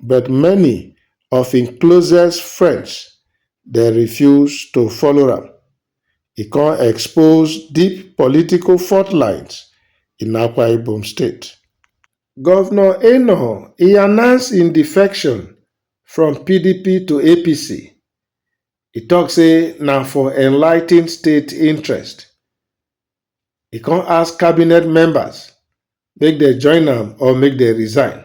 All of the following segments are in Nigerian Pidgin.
but many of im closest friends dey refuse to follow am, e come expose deep political fault lines in Akwa Ibom State. Governor Enoh e announce im defection from pdp to APC, e talk say na for enlightened state interest, e come ask cabinet members make dem join am or make dem resign.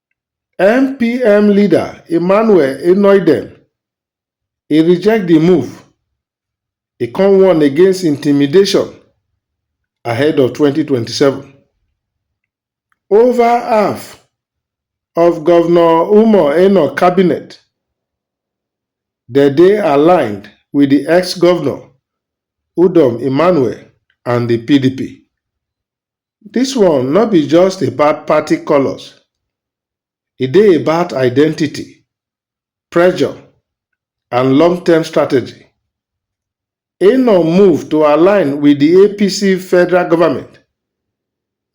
NPM leader Emmanuel Enoidem e reject di move, e come warn against intimidation ahead of twenty twenty seven. Over half of Governor Umar Enoh cabinet dem dey aligned with di ex-governor Udom Emmanuel and di PDP. Dis one no be just about party colours, e dey about identity, pressure and long term strategy. Enon move to align with di APC federal government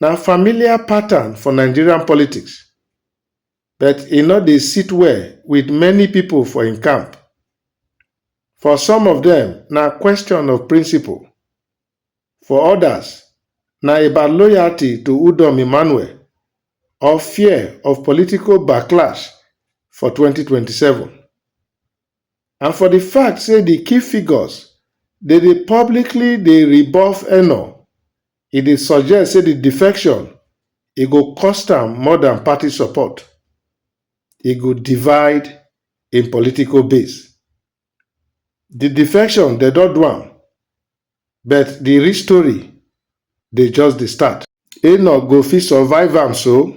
na familiar pattern for Nigerian politics but e no dey sit well with many pipo for im camp. For some of dem, na question of principle For odas, na about loyalty to Udom Emmanuel or fear of political backlash for twenty twenty seven. And for di fact say di key figures dey dey publicly dey rebuff Enoh, e dey suggest say di defection e go cost am more dan party support, e go divide im political base. The defection dem don do am but the real story dey just dey start. E nor go fit survive am so.